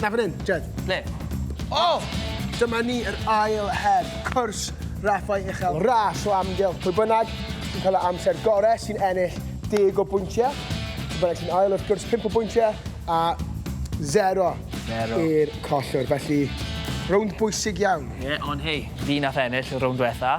Na, fan 'yn, Jed. Ble? O! Dyma ni, yr ail her, cwrs raffau uchel, ras o amgylch. Pwy bynnag sy'n cael yr amser gorau sy'n ennill deg o bwyntiau. Pwy bynnag sy'n ail, wrth gwrs, pump o bwyntiau, a zero, zero. i'r collwr. Felly, rownd bwysig iawn. Ie, ond hei, fi nath ennill y rownd diwetha'.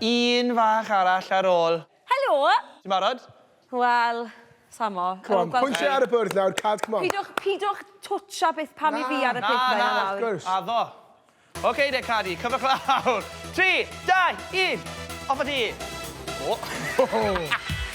Un fach arall ar ôl. Helo! Ti'n barod? Wel, sam o. Come on, pwyntiau ar y bwrdd nawr, Cad, come on. Pidwch, pidwch twtsha beth pan i fi ar y pethau nawr. Na, na, wrth gwrs. Addo. Ok de, Cadi, cyfwch lawr. Tri, dau, un, off a ti! O!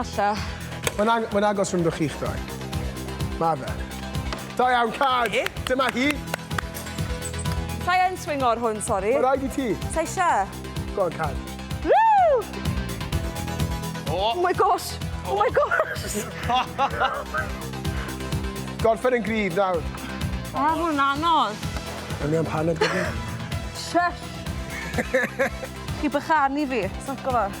Alla. Mae'n ag mae'n agos rhwngddo chi'ch dau. Ma' fe. Da iawn, cad! Ie? Dyma hi. Sai yn swingo ar hwn, sori. Ma' raid i ti. Sai isha. Go on, cad. Woo! Oh my gosh! Oh my gosh! Gorffen yn gryf nawr. O, oh, hwn anodd. Yn iawn paned gyda. Shush! Chi bychanu fi, sa'ch gofod.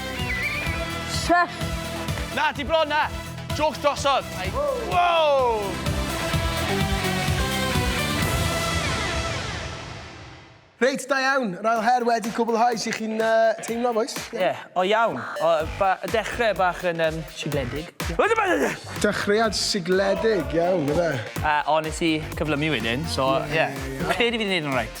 Chef! Na, ti bron na! Jôcs drosodd! Wow! Reit, da iawn. Yr ail her wedi cwblhau. Sut chi'n teimlo, bois? Ie, o iawn. O, ba- dechrau bach yn um, sigledig. Dechreuad sigledig, iawn, efe. A, o, nes i cyflymu wedyn, so, ie. Credu fi 'di neud yn reit.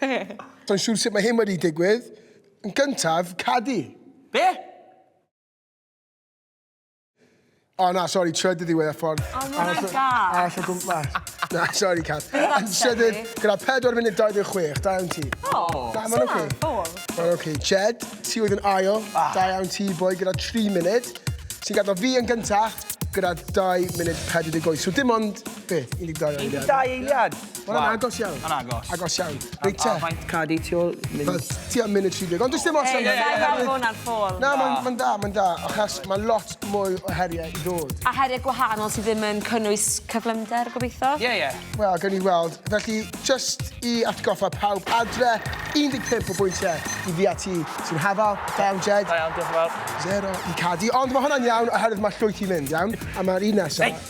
Be? Do'n siŵr sut mae hyn wedi digwydd. Yn gyntaf, cadi. Be? O na, sori, trydydd ddiwedd y ffordd. O, mae'n rhaid da. Arall o gwmpas. Na, sori, Cath. Yn trydydd, gyda 4 munud 26, da iawn ti. O, da, mae'n oce. Mae'n oce. Jed, ti oedd yn ail, ah. da iawn ti, boi, gyda 3 munud. Ti'n gadw fi yn gyntaf, gyda 2 munud 48. So dim ond, be, 12 eiliad? 12 eiliad. Wel, yn agos iawn. Yn agos. Agos iawn. Reit te. A faint cad i ti ôl? Ti am mynd i 30. Ond does dim ots am hynny. Ei, na, mae hwnna'n ffôl. Na, mae'n da, mae'n da. Achos mae lot mwy o heriau i ddod. A heriau gwahanol sydd ddim yn cynnwys cyflymder, gobeithio? Ie, ie. Wel, gawn ni weld. Felly, just i atgoffa pawb adre, 15 o bwyntiau i fi a ti sy'n hafal. Da iawn, Jed. Da iawn, diolch yn fawr. Zero i Cadi. Ond mae hwnna'n iawn, oherwydd mae llwyth i fynd, iawn? A mae'r un nesaf...